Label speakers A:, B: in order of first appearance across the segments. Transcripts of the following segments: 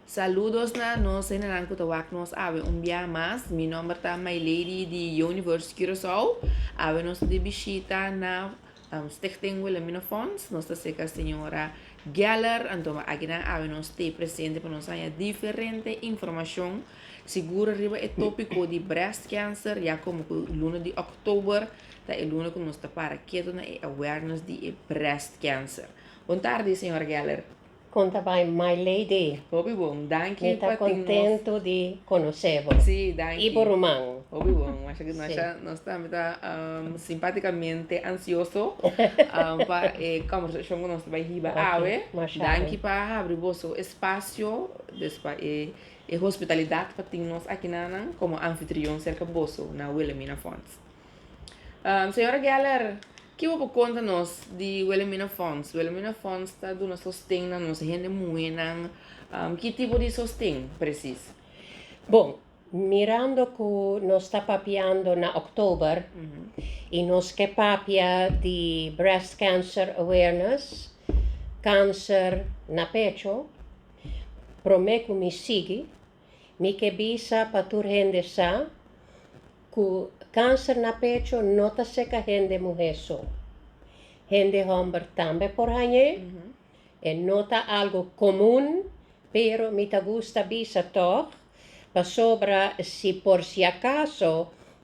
A: Saludos na nos hendenan cu ta wak nos awe un bia mas. Mi nomber ta Maylady di Youniverse Curaçao. Awe nos ta di bishita na Stichting Wilhelmina Fonds. Nos ta cerca Señora Geller. Anto mi aki nan awe nos stay presente pa nos haya diferente informacion sigur riba e topico di breast cancer. Ya como cu luna di October ta e luna cu nos ta para keto na e awareness di e breast cancer. Bon tardi Señora Geller. Con ta bay
B: mai lady. Hopi bon, danki
A: Mi ta contento
B: di conoce bo. Sí, danki. Y bo
A: ruman. Hopi
B: bon, masha que
A: masha. Sí. Nos tambe ta um, simpaticamente ansioso um, pa e conversacion cu nos ta bay hiba okay. awe. Masha danki pa habri boso espacio, dus pa e, e hospitalidad pa tin nos aki nanan como anfitrion cerca boso na Wilhelmina Fonds. Señora Geller, ki bo por conta nos di Wilhelmina Fonds? Wilhelmina Fonds ta duna sosten na nos hende muhenan. Um, ki tipo di sosten precies? Bon,
B: mirando cu nos ta papiando na oktober y nos ke papia di breast cancer awareness, cancer na pecho, prome cu mi sigui, Mi ke bisa pa tur hende sa ku kanser na pecho no ta seka hende muhé so. Hende hòmber tambe por hañ'é. E no ta algu komun, pero mi ta gusta bisa tòg, pasobra si por si akaso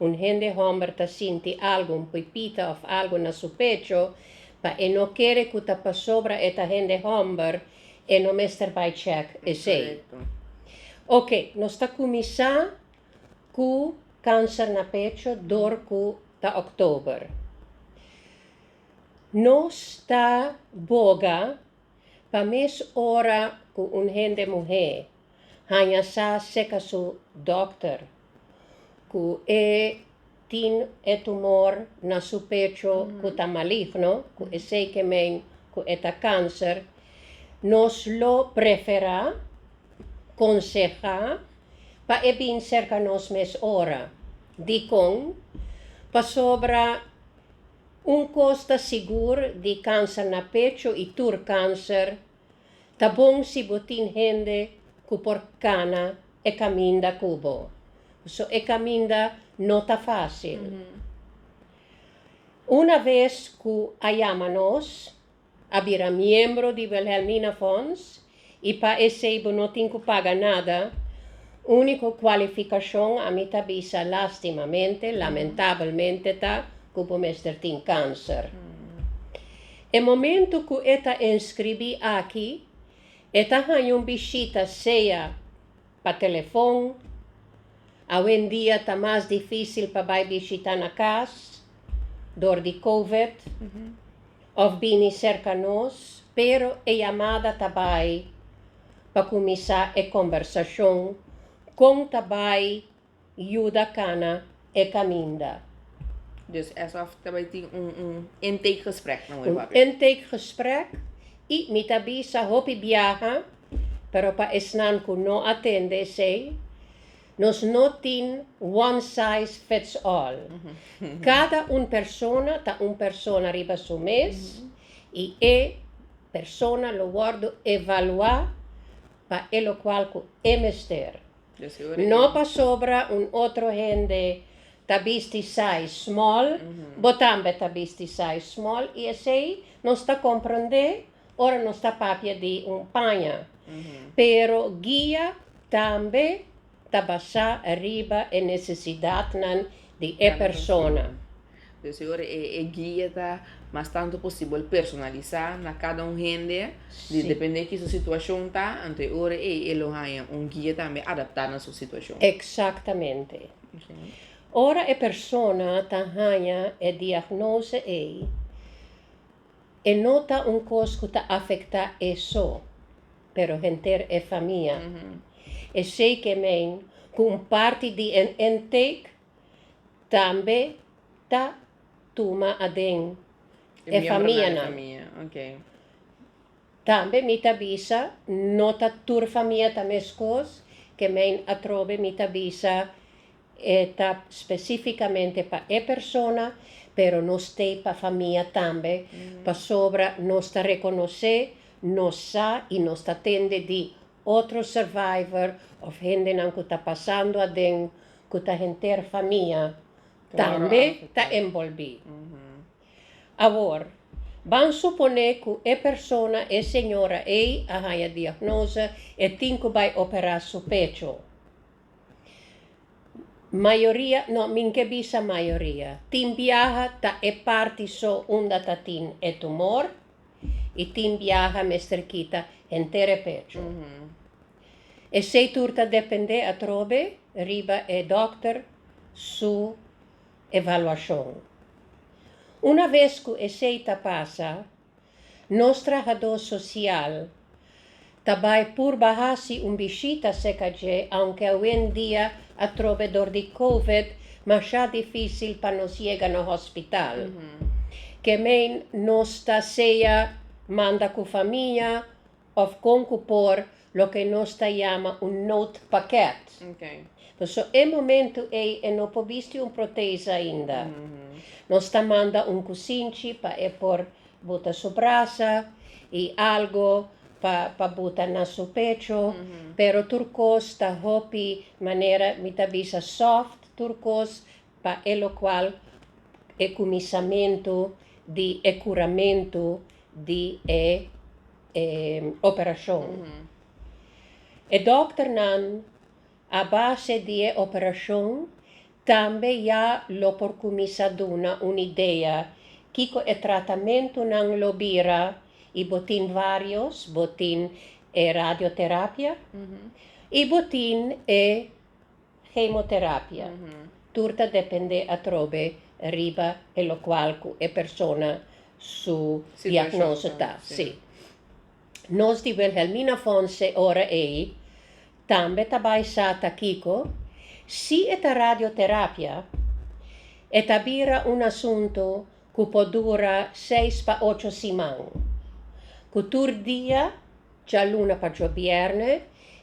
B: un hende hòmber ta sinti algu, un pipita òf algu na su pecho, pa e no kere ku ta pasobra e ta hende hòmber, E no mester bai check esey. Ok, nos ta cuminsa cu cancer na pecho door cu ta October. Nos ta boga pa mes ora cu un hende muhe. haña sa seka su dòkter ku e tin e tumor na su pecho ku ta maligno, ku esei ke men ku e ta kanser, nos lo preferá konsehá pa e bin serka nos mes ora. Dikon? Pasobra un kos ta sigur di kanser na pecho i tur kanser, Ta bon si bo tin hende ku por kana e kaminda ku bo. So e kaminda no ta fásil. Una ves ku a yama nos, a bira miembro di Wilhelmina Fonds i pa esei bo no tin ku paga nada, úniko kualifikashon ami ta bisa lástimamente, lamentabelmente ta ku bo mester tin kánser. E momento cu e ta inscribi aki, e ta haña un bishita sea pa telefon, awendia ta mas dificil pa bay bishita na cas door di covid, of bini cerca nos, pero e yamada ta bay pa cuminsa e conversacion con ta bay yuda cana e caminda. Dus
A: eso af ta bay tin un un intake gesprek na hopi papia. Un intake
B: gesprek y mi ta bisa hopi biaha pero pa esnan cu no a tende esey nos no tin one size fits all. Cada un persona ta un persona riba su mes y e persona lo wordo evalua pa e locual cu e mester. No pasobra un otro hende ta bisti size small bo tambe ta bisti size small y esey nos ta comprende ora nos ta papia di un paña. Pero guia tambe ta basa riba e necesidadnan di e persona. Dios e ora
A: e guia ta mas tanto posibel personalisa na cada un hende, di depende ki su situacion ta, anto e ora ey e lo haya un guia tambe adapta na su situacion. Exactamente.
B: Ora e persona ta haya e diagnose ey, e no ta un cos cu ta afecta e so, pero henter e famia. Esey ke men cu un parti di e intake tambe ta tuma aden e famianan. Tambe mi ta bisa no ta tur famia ta mescos, ke men atrobe mi ta bisa e ta specificamente pa e persona, pero no stay pa famia tambe, pasobra nos ta reconoce, nos sa y nos ta tende di. Otro survivor of hendenan cu ta pasando aden cu ta henter famia tambe
A: ta
B: enbolbi. Awor, ban supone cu e persona, e señora ey a haya diagnose e tin cu bay opera su pecho. Mayoria, no, mi n'ke bisa mayoria, tin biaha ta e parti so unda ta tin e tumor. i tin biaha mester kita henter e pecho. Esei tur ta dependé atrobe riba e dòkter su evaluashon. Una ves ku esei ta pasa, nos trahadó sosial Ta bai purba hasi un bishita seca dje, aunke awendia atrobe dor di Covid masha dificil pa nos yega na hospital. Ke mei nos ta sea manda cu famia of con cu por loke nos ta yama un note paket.
A: Paso e
B: momento ei e no por bisti un proteza ainda. Nos ta manda un cusinchi pa e por Buta su brasa i algu pa pa buta na su pecho, pero tur kos ta hopi manera mi ta bisa soft tur kos pa e lokual e kuminsamentu di e kuramentu di e e operashon. E dòkternan a base di e operashon Tambe ya lo por cuminsa duna un idea kico e tratamentunan lo bira y bo tin varios, bo tin e radioterapia y bo tin e chemoterapia. Tur ta depende atrobe riba e locual cu e persona su diagnoso ta. Nos di Wilhelmina Fonse ora ei tambe ta bai sa ta kiko, si e ta radioterapia, e ta bira un asuntu ku por dura seis pa ocho siman, ku tur dia, djaluna pa djobièrnè,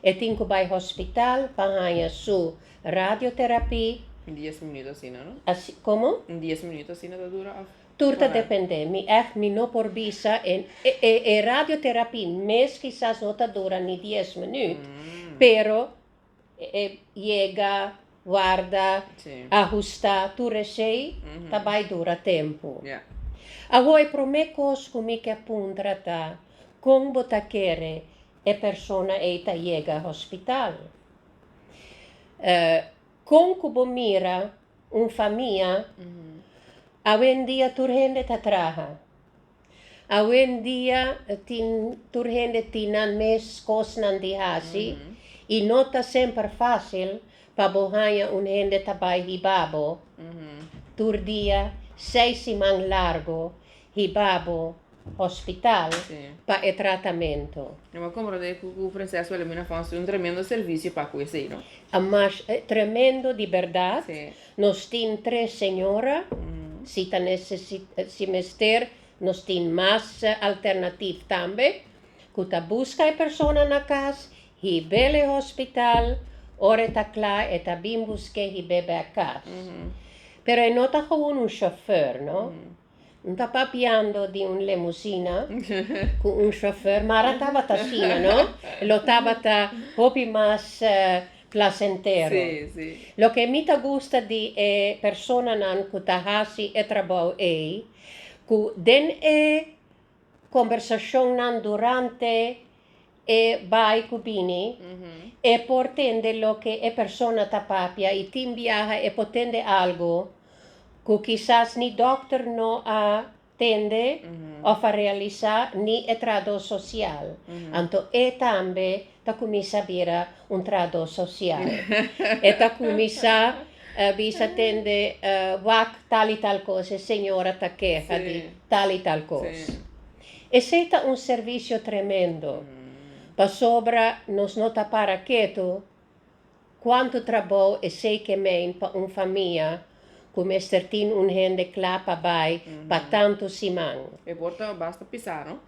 B: e tin ku bai hospital pa haña su radioterapia. Un dies minuto
A: asina no? Komo? Un
B: dies minuto asina ta
A: dura òf? Tur ta depende,
B: mi ect mi no por bisa e e radioterapy mes kisas no ta dura ni dies minuut, pero e yega, warda, ahusta tur esey ta bay dura tempo.
A: Awo e prome
B: kos cu mi ke puntra ta, con bo ta kere e persona ey ta yega hospital? Con cu bo mira un famia, awendia tur hende ta traha, awendia tin tur hende tin nan mes kosnan di hasi i no ta semper fasil pa bo haña un hende ta bai hiba bo tur dia, seis siman largu hiba bo. hospital pa e tratamento. Nan por comprende cu
A: cu Princess Wilhelmina Fonds tin un tremendo servicio pa cu esey, no? A mas
B: tremendo di berdad. Nos tin
A: tres
B: señora, si ta si mester nos tin mas alternativ tambe, cu ta busca e persona na cas, hibel e hospital, ora e ta cla e ta bin busque hib'e bek cas. Pero e no ta gewoon un chauffeur, no? N ta papiando di un lemusina ku un shofèr, mar a tabata asina, no? Lo tabata hopi mas plasentero.
A: Loke mi ta
B: gusta di e personanan ku ta hasi e trabou ei, ku den e Kombersacionnan durante e bai ku bini, e por tende loke e persona ta papia i tin biaha e por tende algu ku kisas ni dokter no a tende of a realisa ni e trahador sosial. Anto e tambe Ta cuminsa bira un trahador social. E ta cuminsa bisa tende wak tal y tal cos, e señora ta keha di tal y tal cos. Esey ta un servicio tremendo, pasobra nos no ta para ketu Cuanto trabou esey ke main pa un famia cu mester tin un hende cla pa bay pa tanto siman. E por ta basta
A: pisa no?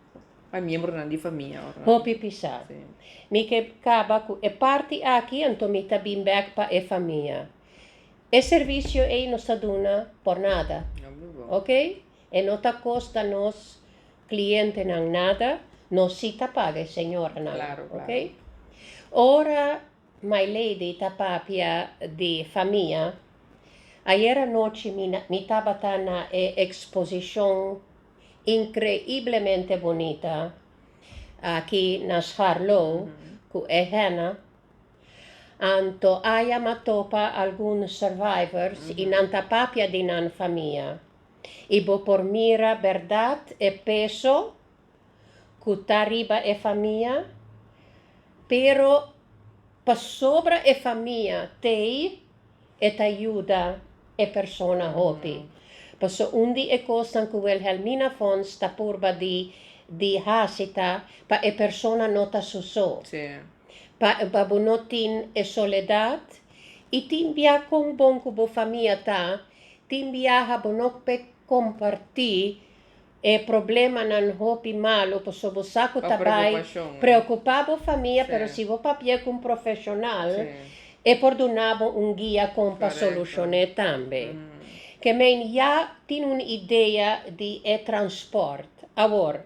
A: Pa miembronan di famia ora. Hopi pisa. Si.
B: Mi ke caba cu e parti aki anto mi ta bin bek pa e famia. E servicio ey nos ta duna por nada. No mi bo. Ok? E no ta costa nos clientenan nada, nos si
A: ta
B: paga e señoranan. Claro, claro. Ok? Ora My lady ta papia di famia, Ayer anochi mi tabata na e exposicion increiblemente bonita aki na Scharlou cu e henna. Anto aya m'a topa algun survivors y nan ta papia di nan famia y bo por mira berdad e peso ku ta riba e famia, pero pasobra e famia t'ei e ta yuda e persona hopi. Paso un di e kosnan ku Wilhelmina Fonds ta purba di di hasi ta pa e persona no ta su so,
A: pa pa bo
B: no tin e soledat i tin bia kon bon ku bo famia ta, tin biaha bo no ke kompartí E problemanan hopi malu pasobra bo sa ku ta bai
A: preokupa bo famia,
B: pero si bo
A: papia
B: ku un profeshonal e
A: por duna
B: bo un guia kon pa solushoné tambe. Ke men ya tin un idea di e transport. Awor,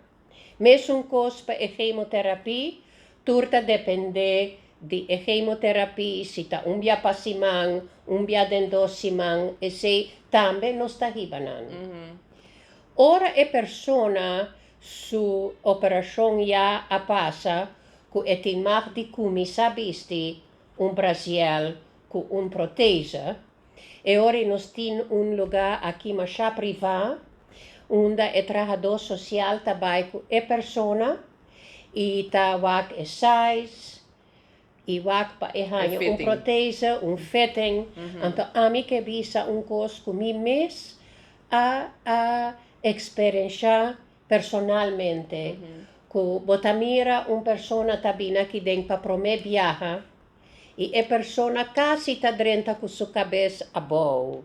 B: mesunkos pa e hemoterapy, tur ta dependé di e hemoterapy, si ta un bia pa siman, un bia den dos siman, esei tambe nos ta hiba nan. Ora e persona su operacion ya a pasa cu e tin mag di cuminsa bisti un brasiel cu un protese, e ora nos tin un luga aki masha priva unda e trahador social ta bay cu e persona y ta wak e size, I wak pa e haña un protese,
A: un
B: fitting. Anto ami ke bisa un kos ku mi mes a a eksperenshá personalmente, ku bo ta mira un persona ta bini aki den pa promé biaha i e persona kasi ta drenta ku su kabes abou,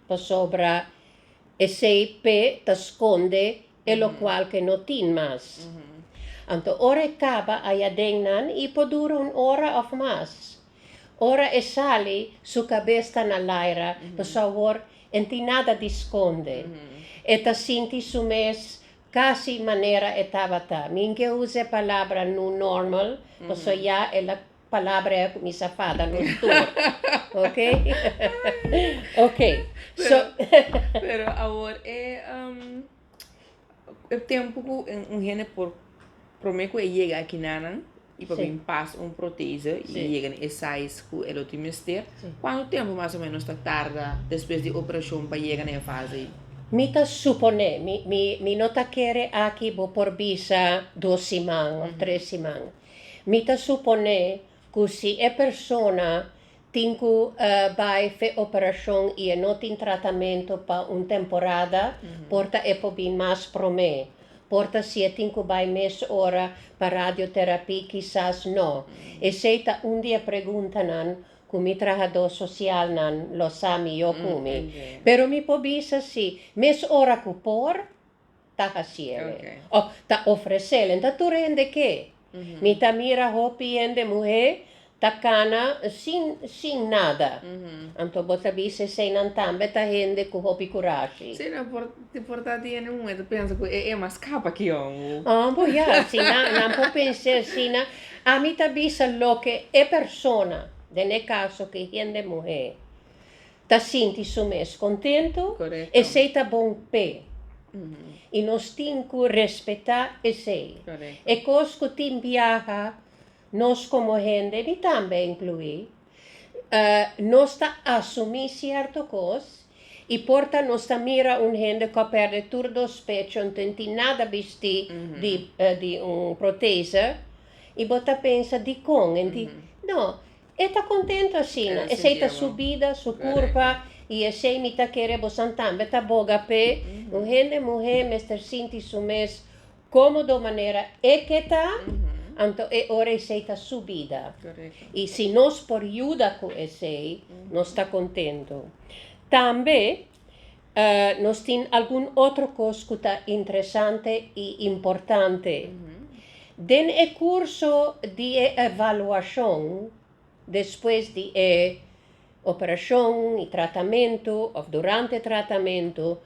B: pasobra esei pe ta skonde. e lokual ke no tin mas. Anto ora e kaba ayaden nan i por dura un ora òf mas. Ora e sali su kabes ta na laira pasobra awor e no tin nada di skonde. E ta sinti su mes kasi manera e tabata, mi ke usa e palabra nu normal pasobra ya el a. Palabra e a kuminsá fada nos tur, ok? Ok, so. Pero
A: awor e tempu ku un hende por promé ku e yega aki nanan i por bin pas un
B: proteze
A: i yega na e size
B: ku
A: e lo tin mester, kuantu tempu mas o menos ta tarda despues di operashon pa yega na e fase ei? Mi ta
B: suponé, mi no ta kere aki bo por bisa dos siman òf tres siman. Mi ta suponé ku si e persona tin ku bai fe operashon i e no tin tratamentu pa un temporada, por ta e por bin mas promé. Por ta si e tin ku bai mes ora pa radioterapí, kisas no. Esei ta un di e preguntanan ku mi trahadó sosialnan lo sa mihó ku mi. Pero mi por
A: bisa
B: si mes ora ku por, ta haciel e. Of ta
A: ofrecel.
B: Enta tur hende ke. Mi ta mira hopi hende muhe ta cana sin sin nada. Anto bo ta bisti eseinan tambe ta hende cu hopi curashi. Si nan por ti
A: por ta di hende muhe ta pensa cu e e mas capa ki yon. Oh bo ya si
B: nan nan por pense asina. Ami ta bisa loke e persona den e caso ki hende muhe Ta sinti su mes contentu, esey ta
A: bon
B: p'e. Y nos tin cu respeta esey. E cos
A: cu tin
B: biaha nos como hende, mi tambe inclui, nos ta asumi cierto cos y por ta nos ta mira un hende cu a perde tur dos pe con tin tin nada bisti di un proteza y bo ta pensa dicon en tin, no, E ta kontentu asina, esei ta su bida, su
A: kurpa,
B: i esei mi ta kere bosan tambe ta boga p'e. Un hende muhé mester sinti su mes kómodo manera e ke ta, anto e ora esei ta su bida. I si
A: nos por
B: yuda ku esei, nos ta kontentu. Tambe Nos tin algun otro cos cu ta interesante y importante. Den e curso di e evaluacion despues di e operacion y tratamento of durante tratamento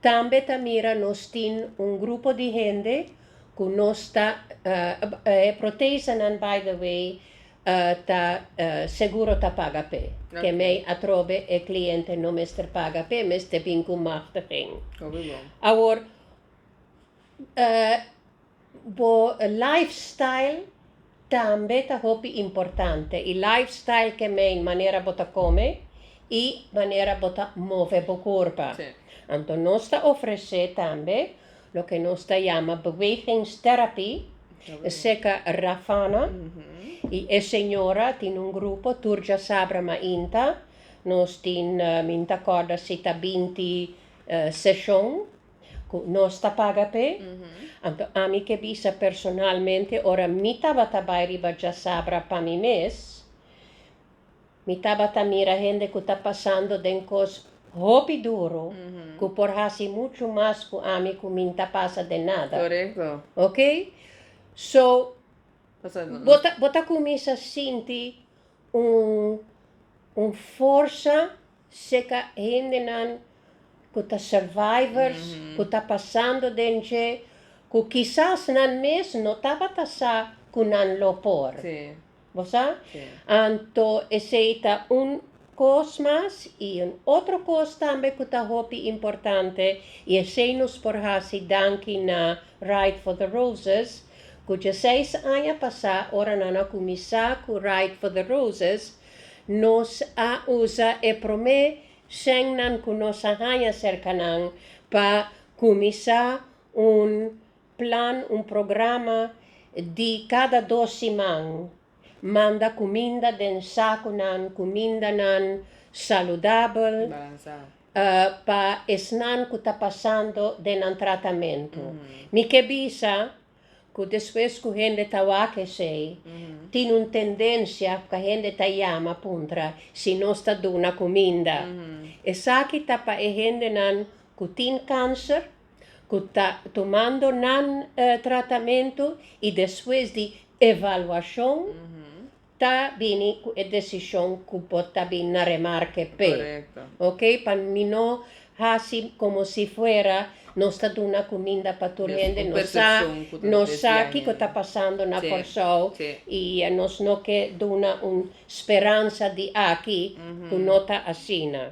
B: tambe ta mira nos tin un grupo di hende cu nos ta, e protesanan by the way ta seguro ta paga p'e. Kemey atrobe e kliente no mester paga p'e mes te bin ku machtiging. Awor bo lifestyle tambe ta hopi importante i lifestyle ke mean manera bo ta kome i manera bo ta move bo kurpa. Anto
A: nos ta
B: ofresé tambe Loke nos ta yama bewegingstherapy eseka Rafana y e señora tin un grupo tur djasabra mainta nos tin mi no ta corda si ta binti seshon cu nos ta paga p'e anto ami ke bisa personalmente ora mi tabata bay riba djasabra pa mi mes Mi tabata mira hende cu ta pasando den cos hopi duro cu por haci mucho mas cu ami cu mi n'ta pasa den nada. Correcto. Ok? So,
A: bo ta, bo ta cuminsa
B: sinti un, un forsa seca hendenan cu ta survivors, cu ta pasando den dje, cu kisas nan mes no tabata sa cu nan lo por. Sí. Bo
A: sa?
B: Anto esei ta un kos mas i un otro kos tambe ku ta hopi importante i esei nos por hasi danki na Ride for the Roses ku djeseis aña pasá ora nan a kuminsá ku Ride for the Roses nos a usa e promé shennan ku nos a haña serka nan pa kuminsá un plan un programa di kada dos siman, manda kuminda den sakunan, kumindanan saludabel
A: pa
B: esnan ku ta pasando den nan tratamentu. Mi ke bisa ku despues ku hende ta wak esei, tin un tendensia pa hende ta yama puntra si nos ta duna kuminda. Esaki ta pa e hendenan ku tin kanser? cu ta tumando nan tratamento y despues di evaluacion ta bini cu e decision cu bo ta bin na remarke p'e, ok,
A: pa mi
B: no haci como si fuera nos ta duna cuminda pa tur hende, nos sa, nos sa kico ta pasando na Corsou y nos no ke duna un speransa di aki cu no ta asina.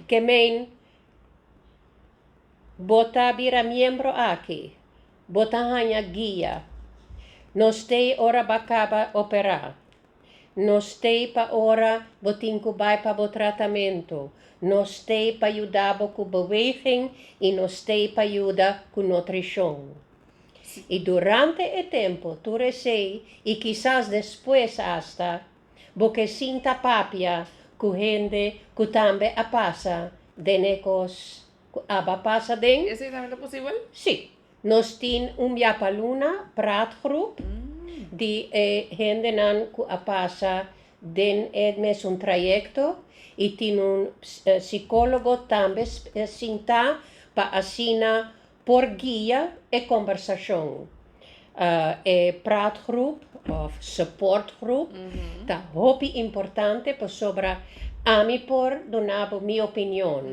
B: Ke meen. Bo ta bira miembro aki. Bo ta haña guia. Nos t'ei ora ba caba operá. Nos t'ei pa ora bo tin cu bai pa bo tratamento. Nos t'ei pa yuda bo cu beweging y nos t'ei pa yuda cu nutricion. Y durante e tempo tur esey y kisas despues hasta. Bo ke sinta papia ku hende ku tambe a pasa den e kos ku aba pasa den? Esei tambe ta posibel?
A: Sí. Nos
B: tin un biapaluna pratgroep di e hendenan ku a pasa den e mesun trayekto i tin un sikólogo tambe sintá pa asina Por guia e kombersashon, e pratgrup òf suportgrup ta hopi importante pasobra ami por duna bo mi opinion.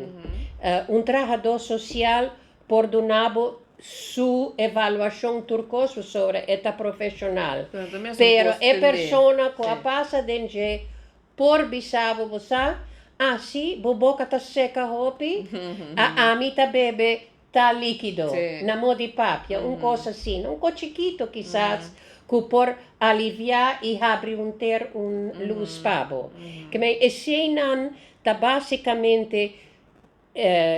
B: Un trahadó sosial por duna bo su evaluashon tur kos pasobra e ta profeshonal. Pero e persona ku a pasa den dje Por bisabo bo sa, asi bo boka ta seca hopi, a ami ta bebe ta liquido na mo di papia, un cos asina, un cos chikito kisas cu por alivia y habri un ter un luz pa bo. Kmei, eseinan ta basicamente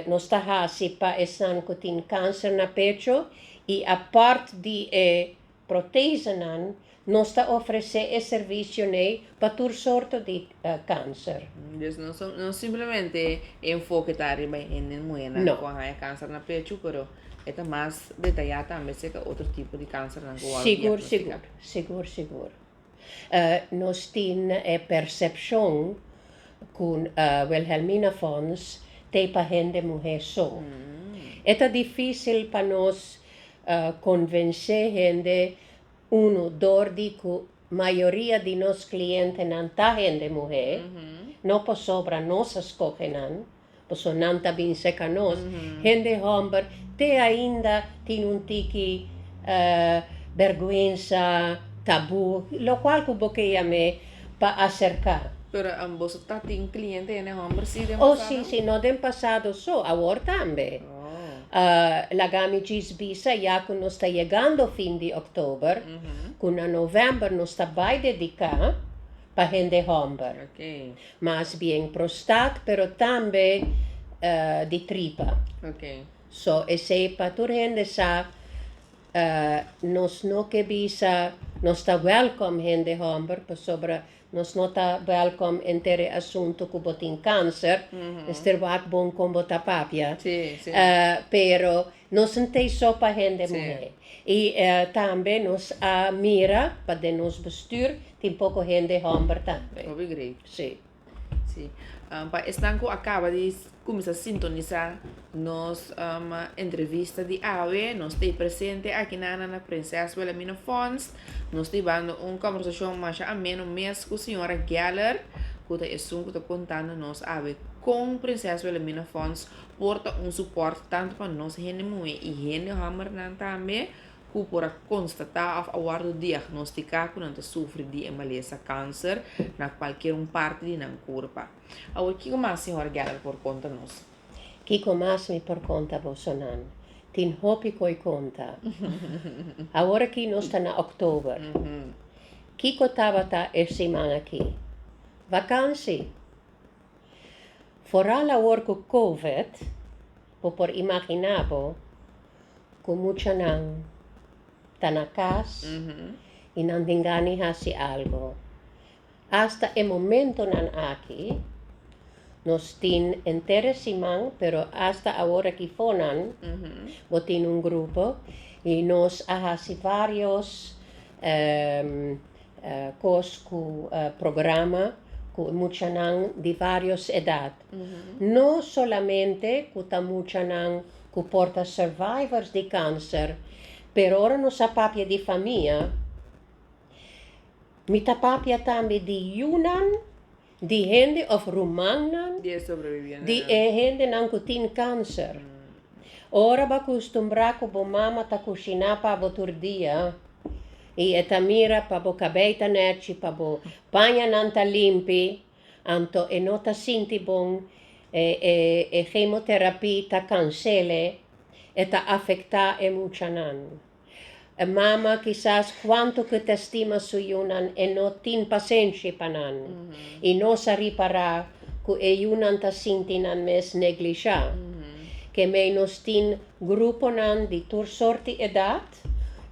B: Nos ta hasi pa esnan ku tin kanser na pecho i apart di e protesanan, nos ta ofresé e servisionan pa tur sorto di kanser. Dus no
A: simplemente e enfoke ta riba e hende muhernan ku a haña kanser na pecho, pero e ta mas detayá tambe aserka otro tipo di kansernan ku bo a diagnostika. Sigur, sigur, sigur, sigur.
B: Nos tin e percepcion cu Wilhelmina Fons t'e pa hende muhe so. E ta dificil pa nos convence hende, uno, dor di cu mayoria di nos clientenan ta hende muhe, no posobra nos a scoge nan. Pasobra nan ta bin seka nos. Hende hòmber te ainda tin un tiki bèrgwensa, tabú, lokual ku bo kei am'é pa aserká. Pero boso
A: ta tin kliente hende hòmber sí den pasado? O sí, sí, no den
B: pasado so, awor tambe.
A: Laga
B: mi djis bisa ya ku nos ta yegando fin di òktober, ku na novèmber nos ta bai dediká. pa hende hòmber, mas
A: bien
B: prostat pero tambe di tripa
A: so esei
B: pa tur hende sa nos no ke bisa nos ta wèlkòm hende hòmber pasobra nos no ta wèlkòm enter e asuntu ku bo tin kanser mester wak bon kon bo ta papia
A: pero
B: Nos n'tei so pa hende muhé i tambe nos a mira pa den nos bestuur tin poko hende homber tambe. Hopi grei. Sí. Sí.
A: Pa esnan ku a kaba di kuminsá sintonisá nos entrevista di awe, nos t'ei presente akinan na na Prinses Wilhelmina Fonds. Nos t'ei bando un kòmbersashon masha ameno mes ku señora Geller, ku ta esun ku ta kontando nos awe kon Prinses Wilhelmina Fonds por ta un suport tantu pa nos hende muhé i hende hòmber nan tambe ku por a konstatá òf a wòrdu diagnostiká ku nan ta sufri di e malesa kanser na kualkier un parti di nan kurpa. Awor kiko mas Señora Geller por konta nos? Kiko mas
B: mi por konta boso nan? Tin hopi ku oi konta. Awor aki nos ta na òktober. Kiko tabata e siman aki? Vakansi! Foral awor cu Covid, bo por imagina bo cu muchanan ta na cas y nan tin gani haci algo. Hasta e momentonan aki, nos tin enter e siman, pero hasta awor aki fonan, bo tin un grupo y nos a haci varios Kos ku programa ku muchanan di varios edat. No solamente ku ta muchanan ku por ta survivors di kanser, pero ora nos a papia di famia, mi ta papia tambe di yunan. Di hende of rumannan
A: di e hendenan
B: ku tin kanser. Ora bo a kustumbrá ku bo mama ta kushiná pa bo tur dia i e ta mira pa bo kabei ta nèchi, pa bo pañanan ta limpi, anto e no ta sinti bon. E hemoterapia ta kansele, e ta afektá e muchanan. E mama kisas kuantu ku ta stima su yunan e no tin pasenshi pa nan i no sa ripará ku e yunan ta sinti nan mes neglishá. Ke mei nos tin gruponan di tur sorti edat.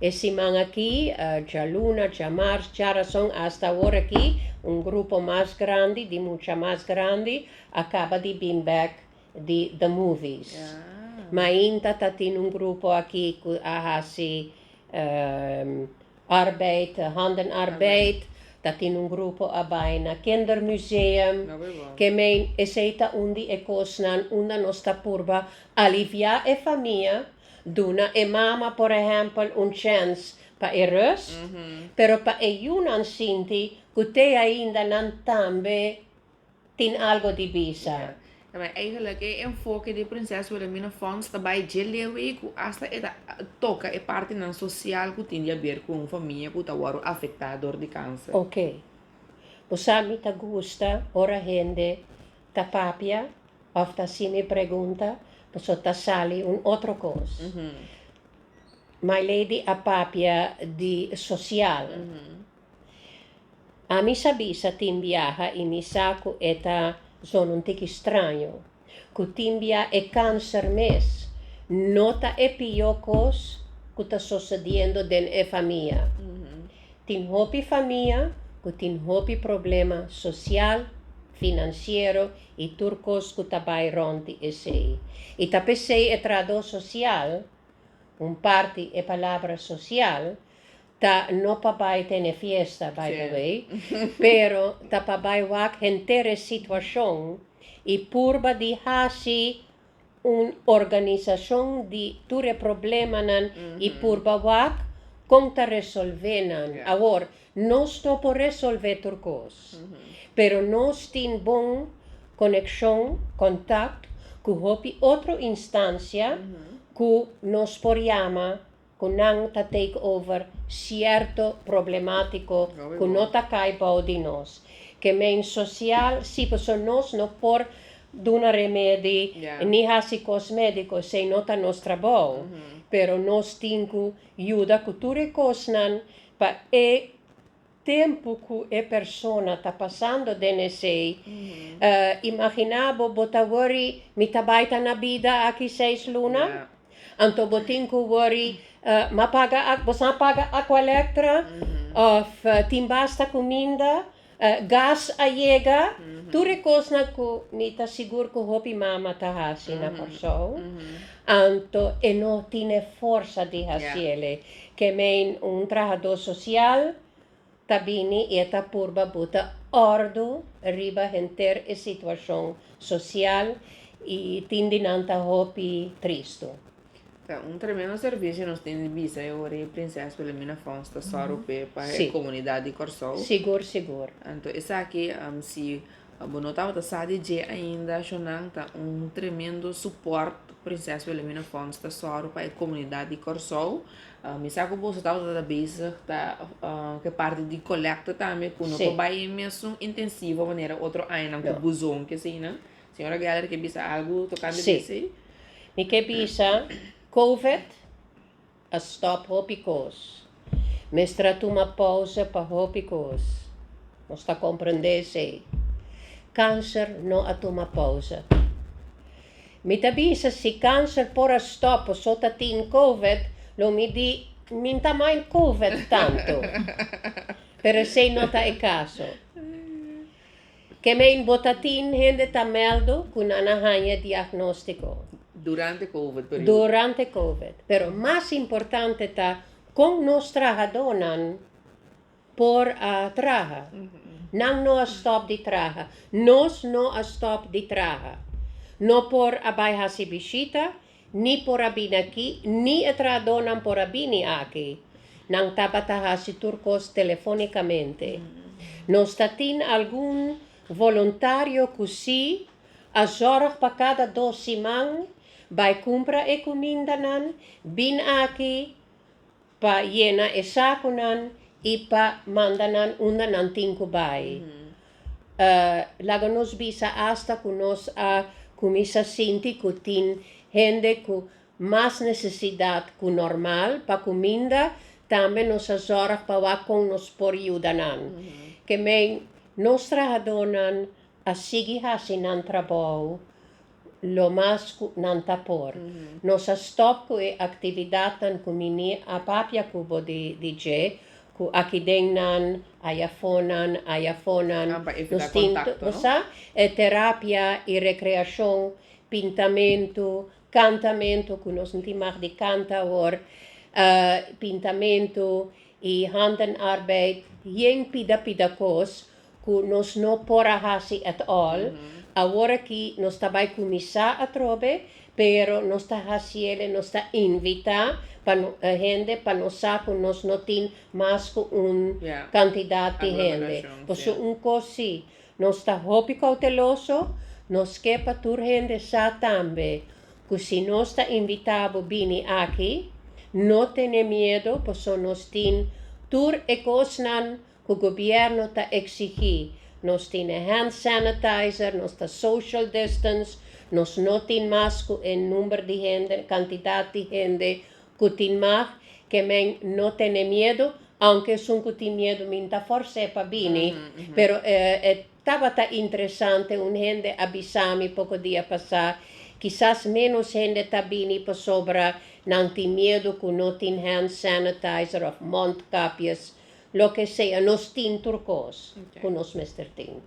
B: E siman aki, djaluna, djamars, djarason asta awor aki un grupo mas grandi di mucha mas grandi a kaba di bin bèk di The Movies. Mainta ta tin un grupo aki cu a haci arbeid, handenarbeid. Ta tin un grupo a bay na Kindermuseum. Ke meen esey ta un di e cosnan unda nos ta purba alivia e famia, duna e mama por ehempel un chance pa e rust, pero pa e yunan sinti cu te ainda nan tambe tin algo di bisa. Tabai eigenlijk
A: e enfoke di Prinses Wilhelmina Fonds ta bai dje lewe ku asta e ta toka e partinan sosial ku tin di a ber ku un famia ku ta wòrdu afektá dor di kanser. Ok.
B: Bo sa mi ta gusta ora hende ta papia òf ta hasi mi pregunta pasobra ta sali un otro kos. My Lady a papia di sosial. Ami sa bisa tin biaha i mi sa ku e ta zona un tiki straño, ku tin bia e kanser mes no ta e pió kos ku ta sosediendo den e famia. Tin hopi famia ku tin hopi problema sosial, finansiero i tur kos ku ta bai rònt di esei. I ta p'esei e trahadó sosial, un parti e palabra sosial, Ta no pa bai tene fiesta by the way, pero ta pa bai wak henter e situacion y purba di haci un organisacion di tur e problemanan y purba wak con ta resolve nan. Awor, nos no por resolve tur cos, pero nos tin bon coneccion, contact, cu hopi otro instancia cu nos por yama cu nan ta take over cierto problematico cu no ta cay bao di nos, que men social si pasobra nos no por duna remedi ni haci cos medico esey no ta nos trabao, pero nos tin cu yuda cu tur e cosnan pa e Tempu ku e persona ta pasando den esei, imaginá bo bo ta wòri, Mi ta bai ta na bida aki seis luna? Anto bo tin ku wòri, M'a paga ak, boso a paga akwa elektra? Òf, Tin basta kuminda? Gas a yega? Tur e kosnan ku mi ta sigur ku hopi mama ta hasi na Kòrsou, anto e no tin e forsa di hasi elei. Kemein, un trahadó sosial, ta bini i e ta purba buta òrdu riba henter e situashon sosial i tin di nan ta hopi tristu. Ta un tremendo
A: servisio nos tin di bisa e ora e Prinses Wilhelmina Fonds ta sòru p'e pa e komunidat di Kòrsou. Sigur, sigur.
B: Anto esaki,
A: si Bo no tabata sa di dje ainda, Shonan ta un tremendo suport Prinses Wilhelmina Fonds ta sòru pa e komunidat di Kòrsou. Mi sa ku boso tabata ta bezig ta ku e parti di kolèkta tambe ku no ta bai e mesun intensivo manera otro añanan ku buzon ki asina. Señora Geler ke bisa algu tokante di esei? Si, mi ke
B: bisa, Covid. A stop hopi kos. Mester a tuma pausa pa hopi kos. Nos ta komprendé esei. Kanser no a tuma pausa. Mi ta bisa si kanser por a stop paso ta tin Covid, lo mi di mi n'ta mind Covid tantu. Pero esei no ta e kaso. Ke men bo ta tin hende ta mèldo ku nan a haña diagnóstiko. Durante
A: covid periudo. Durante covid.
B: Pero mas importante ta kon nos trahadónan por a traha. Nan no a stòp di traha. Nos no a stòp di traha. No por a bai hasi bishita. ni por a bini aki, ni e trahadónan por a bini aki. Nan tabata hasi tur kos telefónikamente. Nos ta tin algun voluntario ku sí a zòrg pa kada dos siman bai kumpra e kumindanan, bin aki, Pa yena e sakunan i pa manda nan unda nan tin ku bai. Laga nos bisa asta ku nos a kuminsá sinti ku tin hende ku mas nesesidat ku normal pa kuminda. Tambe nos a zòrg pa wak kon nos por yuda nan. Ke men, nos trahadónan a sigui hasi nan trabou. lo mas cu nan ta por. Nos a stop cu e actividadnan cu Niní a papia cu bo di dje, cu akidennan, ayafonan, ayafonan, nos tin tu, bo sa, e terapia, e recreacion, pintamentu, cantamentu, cu nos no tin mag di canta awor, pintamentu, y handenarbeid, hien pida pida cos, cu nos no por a haci at all, awor aki nos ta bay cuminsa atrobe, pero nos ta haciele, nos ta invita pa no hende pa nos sa cu nos no tin mas cu un cantidad di hende, pasobra un cos si, nos ta hopi cauteloso, nos ke pa tur hende sa tambe cu si nos ta invita bo bini aki, no tene miedo, pasobra nos tin tur e cosnan cu gobierno ta exigi, nos tin e hand sanitizer, nos ta social distance, nos no tin mas cu e number di hende, cantidad di hende cu tin mag, ke men no tene miedo, aunke esun cu tin miedo mi n'ta force pa bini, pero e tabata interesante, un hende a bisami poco dia pasa, kisas menos hende ta bini pasobra nan tin miedo cu no tin hand sanitizer of mondkapjes, Loke sea nos tin tur kos ku nos mester tin.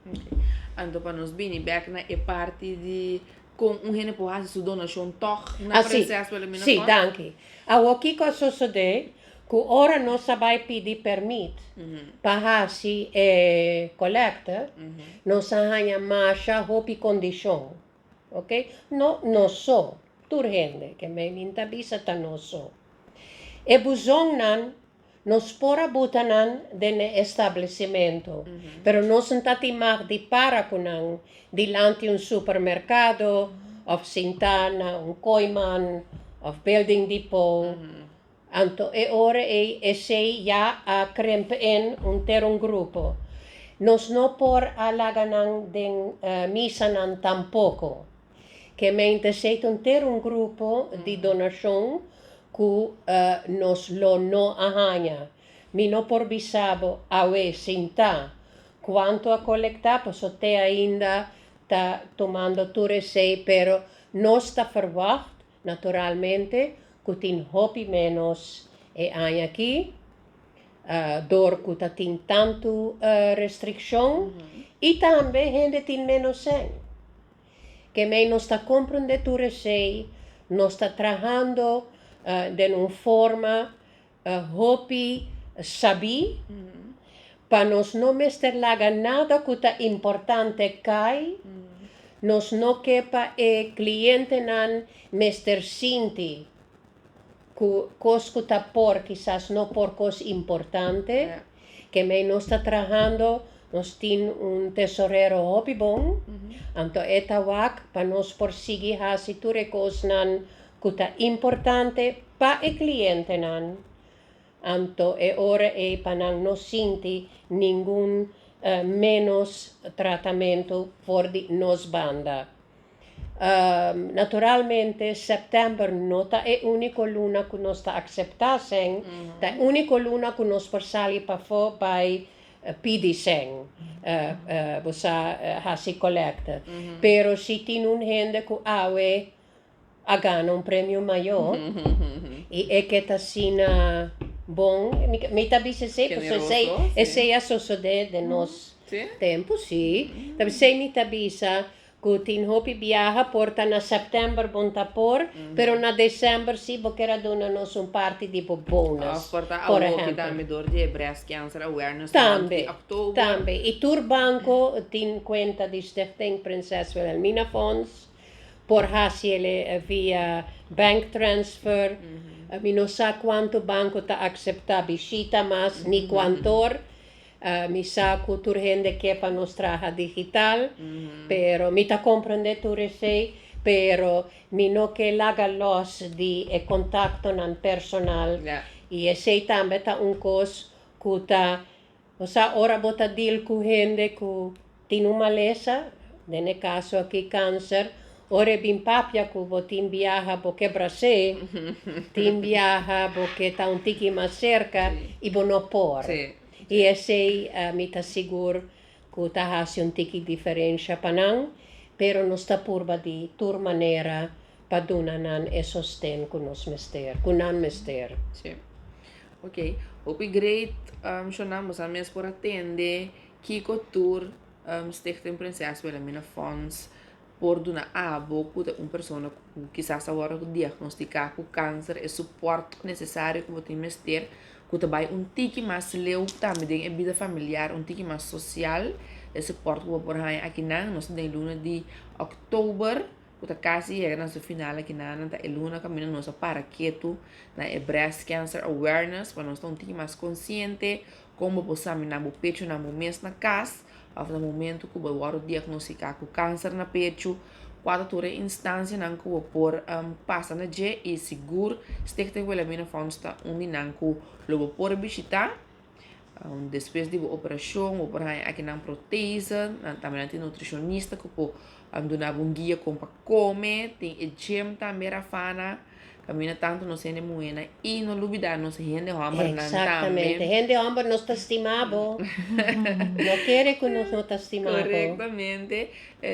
B: Ok.
A: Anto pa nos bini bek na e parti di kon un hende por hasi su donashon tòg na preses pa elimina kos. Si, danki.
B: Awor kiko a sosodé ku ora nos a bai pidi pèrmit pa hasi e kolèkta, nos a haña masha hopi kondishon. Ok. No nos so, tur hende, ke mei mi ta bisa ta nos so. E buzonnan Nos por a buta nan den e establecimentu, pero nos n'ta tin mag di para cu nan dilanti un supermercado of sinta na un Kooiman of Building Depot, anto e ora ey esey ya a kremp'en un ter un grupo. Nos no por a laga nan den misanan tampoco. Ke mente sey ta un ter un grupo di donashon ku nos lo no a haña. Mi no por bisa bo awe sin ta kuantu a kolektá paso te ainda ta tomando tur esey pero nos ta ferwagt naturalmente ku tin hopi ménos e aña aki dor ku ta tin tantu restrikshon i tambe hende tin ménos sèn. Kemey nos ta komprendé tur esei, nos ta trahando den un forma hopi sabí pa nos no mester laga nada ku ta importante kai, nos no ke pa e klientenan mester sinti Cu cos cu ta por kisas no por cos importante, ke mei nos ta trahando, nos tin un tesorero hopi bon, anto e ta wak pa nos por sigui hasi tur e cosnan cu ta importante pa e clientenan, anto e ora ei pa nan no sinti ningun menos tratamento for di nos banda. Naturalmente, sèptèmber no ta e úniko luna ku nos ta akseptá sèn, ta e úniko luna ku nos por sali pafó bai pidi sèn, bo sa, hasi kolèkta. Pero si tin un hende ku awe a gana un premio mayó i e ke ta asina bon, mi ta bisa esei pasobra esei, esei a sosodé den nos tempu, sí. Esei mi ta bisa Cu tin hopi biaha por ta na september bon ta por, pero na december si bo kier a duna nos un parti di bo bonus. Of por ta awo hopi tambe
A: door
B: di e
A: breast cancer awareness month di october. Tambe,
B: tambe. Y
A: tur
B: banco tin cuenta di Stichting Prinses Wilhelmina Fonds, por haci ele via bank transfer. Mi no sa cuanto banco ta acepta bishita mas ni cuantor, Mi sa cu tur hende kier pa nos traha digital, pero mi ta comprende tur esey, pero mi no ke laga los di e contactonan personal y esey tambe ta un cos cu ta, bo sa ora bo ta deal cu hende cu. Tin un malesa, den e kaso aki kanser, ora e bin papia ku bo tin biaha bo ke bras'é, tin biaha bo ke ta un tiki mas serka i bo no por. I esei mi ta sigur ku ta hasi un tiki diferensha pa nan, pero nos ta purba di tur manera pa duna nan e sosten ku nos mester, ku nan mester.
A: Oke, hopi great shonnan, bosa mes por a tende. Kiko tur Stichting Prinses Wilhelmina Fonds por duna abo ku ta un persona ku kisas awor a diagnostiká ku kanser e suport nesesario ku bo tin mester ku ta bai un tiki mas leu tambe den e bida familiar, un tiki mas sosial? E suport ku bo por haña akinan nos ta den luna di October ku ta kasi yega na su final aki na nan ta e luna kaminda nos a para ketu na e Breast Cancer Awareness pa nos ta un tiki mas konsiente kon bo por saminá bo pechunan bo mes na kas òf na momentu ku bo wòrdu diagnostika ku kanser na pechu kua ta tur e instansianan ku bo por pasa na dje i sigur Stichting Wilhelmina Fonds ta un di nan ku lo bo por bishitá. Despues di bo operacion bo por haña akinan protese, nan tambe nan tin nutricionista cu por a duna bo un guia con pa come, tin e gym tambe Rafana, caminda tanto nos hende muhernan y no lubida nos hende hombernan tambe. Exactamente, hende
B: homber nos ta stima bo, no kere cu nos no ta stima bo. Correctamente,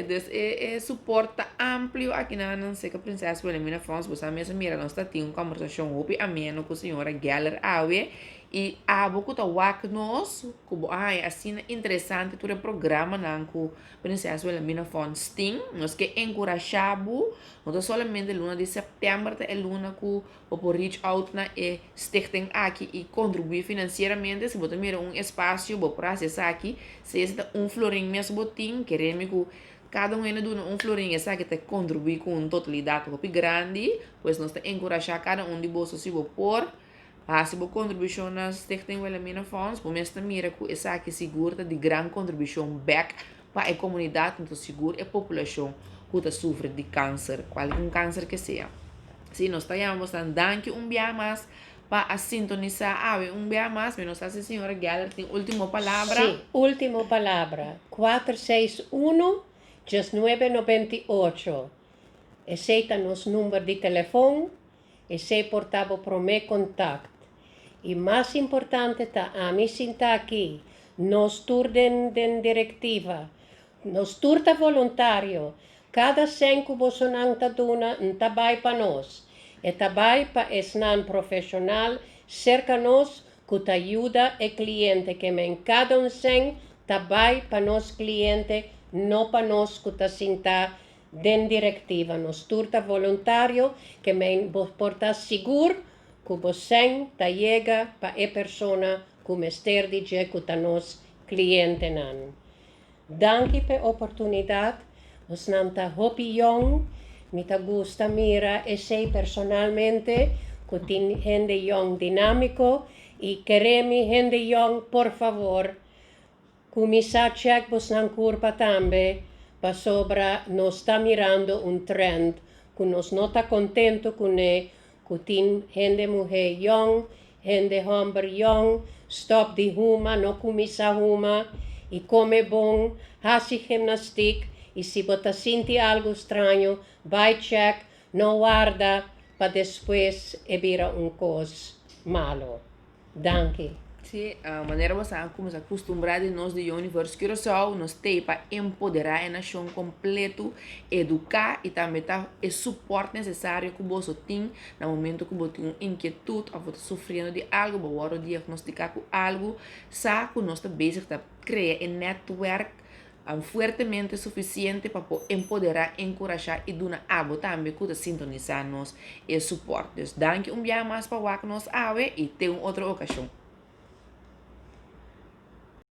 A: dus e e support ta amplio akinan nan Seca Princess Wilhelmina Fonds, bo sa mes a mira nos ta tin un conversacion hopi ameno cu señora Geller Awe I abo ku ta wak nos ku bo a haña asina interesante tur e programanan ku Prinses Wilhelmina Fonds tin, nos ke enkurashá bo, no ta solamente luna di sèptèmber ta e luna ku bo por reach out na e stichting aki i kontribuí finansieramente. Si bo ta mira un espasio bo por hasi esaki, sea si ta un florin mes bo tin, kere mi ku kada un hende duna un florin esaki ta kontribuí ku un totalidat hopi grandi, pues nos ta enkurashá kada un di boso si bo por. Hasi bo kontribushon na Stichting Wilhelmina Fonds, bo mes ta mira ku esaki sigur ta di gran kontribushon bèk pa e komunidat anto sigur e populashon ku ta sufri di kanser, kualkier kanser ke sea. Si nos ta yama bosnan danki un biaha mas pa a sintonisá awe un biaha mas. Mi nos ta haci Señora Geller tin último palabra. Sí, último
B: palabra, kuater seis unu, dies nuebe nobenta i ocho, esei ta nos number di telefòn. Esei por ta bo promé kontakt. I mas importante ta ami sinta aki, nos tur den den direktiva. Nos tur ta voluntario. Kada sèn ku bosonan ta duna N ta bai pa nos. E ta bai pa esnan profeshonal serka nos ku ta yuda e kliente ke men. Kada un sèn ta bai pa nos kliente, no pa nos ku ta sinta Den Directiva nos tur ta voluntario, kemen bo por ta sigur cu bo sen ta yega pa e persona cu mester di dje cu ta nos clientenan. Danki p'e oportunidad, bosnan ta hopi yong, mi ta gusta mira esey personalmente cu tin hende yong dinamico y keremi hende yong por favor, Kuminsá chèk bosnan kurpa tambe pasobra nos ta mirando un trend ku nos no ta kontentu kuné ku tin hende muhé yòn, hende hòmber yòn, stòp di huma, no kuminsá huma, i kome bon, hasi gimnastik, i si bo ta sinti algu straño, bai chèk, no warda pa despues e bira un kos malu. Danki. Si
A: manera nos a kuminsá kustumbrá di nos di Yoni First Curaçao, nos t'ei pa empoderá e nashon kompletu, eduká i tambe ta e supòrt nesesario ku boso tin na momentu ku bo tin un inkietut òf bo ta sufriendo di algu, bo wòrdu diagnostiká ku algu, sa ku nos ta bezig ta krea e nètwèrk An fuertemente suficiente pa por empoderá, encourashá y duna abo tambe cu ta sintonisá nos e support. Dus danki un biaha mas pa wak nos awe y ten un otro ocasion.